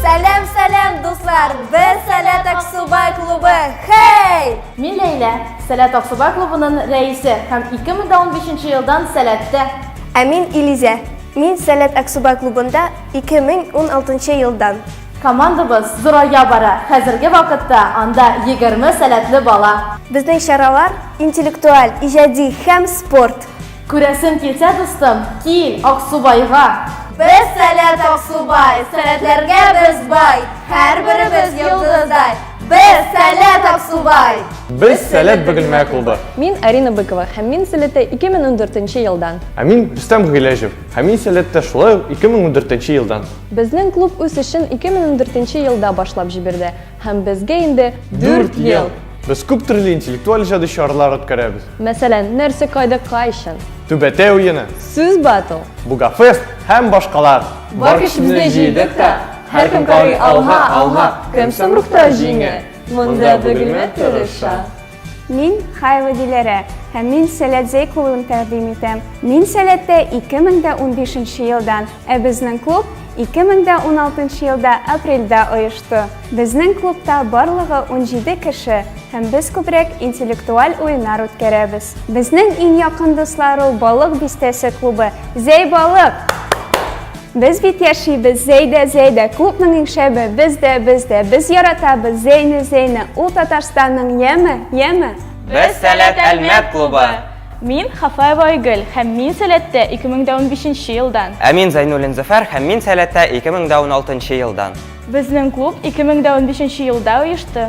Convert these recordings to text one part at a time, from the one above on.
Сәләм, сәләм, дуслар! Без Сәләт Аксубай клубы! Хей! Мин Ләйлә, Сәләт Аксубай клубының рәисе һәм 2015 елдан Сәләттә. Ә мин Илизә. Мин Сәләт Аксубай клубында 2016 елдан. Командабыз зурая бара. Хәзерге вакытта анда 20 сәләтле бала. Безнең чаралар интеллектуаль, иҗади һәм спорт. Күрәсем килсә, дустым, кил Аксубайга! Без сәләт Аксубай, сәләтләргә без бай, һәрберебез йолдыздай. Без сәләт Аксубай! Без сәләт Бөгелмә клубы. Мин Арина Быкова һәм мин сәләттә 2014 елдан. Ә мин Рөстәм Гыйләҗев һәм мин сәләттә шулай ук 2014 елдан. Безнең клуб үз эшен 2014 елда башлап җиберде. Һәм безгә инде дүрт ел! Без күп төрле интеллектуаль иҗади чаралар үткәрәбез. Мәсәлән, нәрсә кайда кайчан? Түбәтәй уены, Сүз батл! Бугафест һәм башкалар. Бар көчебезне җыйдык та, һәркем карый алга, алга, кем соң рухта җиңә? Монда Бөгелмә тырыша. Мин Хайлы Диләрә һәм мин сәләт зәй кылуын тәкъдим итәм. Мин сәләттә 2015 нче елдан, ә безнең клуб 2016 елда апрельдә оешты. Безнең клубта барлыгы 17 кеше һәм без күбрәк интеллектуаль уеннар үткәрәбез. Безнең иң якын дуслар ул Балык бистәсе клубы. Зәй Балык! Без бит яшибез, Зәйдә, Зәйдә, күпнең иң шәбе, без дә, без дә, без яратабыз, Зәйне, Зәйне, ул Татарстанның яме, яме. Без Сәләт Әлмәт клубы. Мин Хафаева Айгөл һәм мин Сәләттә 2015 елдан. Ә мин Зәйнуллин Зөфәр һәм мин Сәләттә 2016 елдан. Безнең клуб 2015 елда оешты.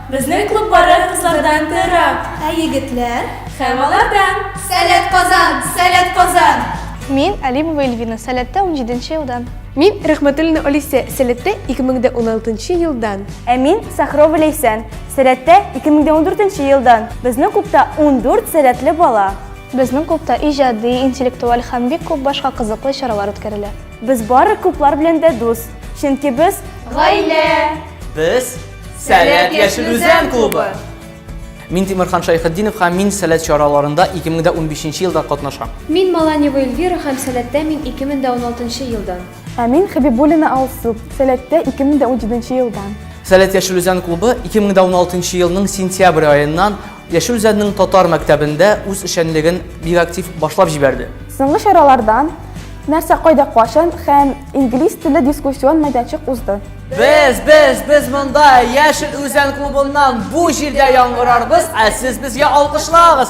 Безнең клуб бары кызлардан тыырак. Ә егетләр? Һәм алардан! Сәләт Казан! Сәләт Казан! Мин, Алимова Эльвина, Сәләттә унҗиденче елдан. Мин, Рәхмәтуллина Алисә, Сәләттә 2016 нчы елдан. Ә мин, Сахрова Ләйсән, Сәләттә 2014 нче елдан. Безнең клубта ундүрт сәләтле бала. Безнең клубта иҗади, интеллектуаль һәм бик күп башка кызыклы чаралар үткәрелә. Без бары клублар белән дә дус, чөнки без, гаилә! Без, Сәләт яшел үзән клубы! Мин Тимирхан Шайхетдинов һәм мин сәләт чараларында 2015 елда катнашам. Мин Маланева Эльвира һәм сәләттә мин 2016 елдан. Ә мин Хәбибуллина Алсу, сәләттә 2017 елдан. Сәләт яшел үзән клубы 2016 елның сентябрь аеннан Яшел Үзәннең татар мәктәбендә үз эшчәнлеген бик актив башлап җибәрде. Соңгы чараларда нәрсә кайда качан һәм инглиз теле дискуссион мәйданчык узды. Без, без, без монда Яшел Үзән клубыннан бу җирдә яңгырарбыз, ә сез безгә алкышлагыз.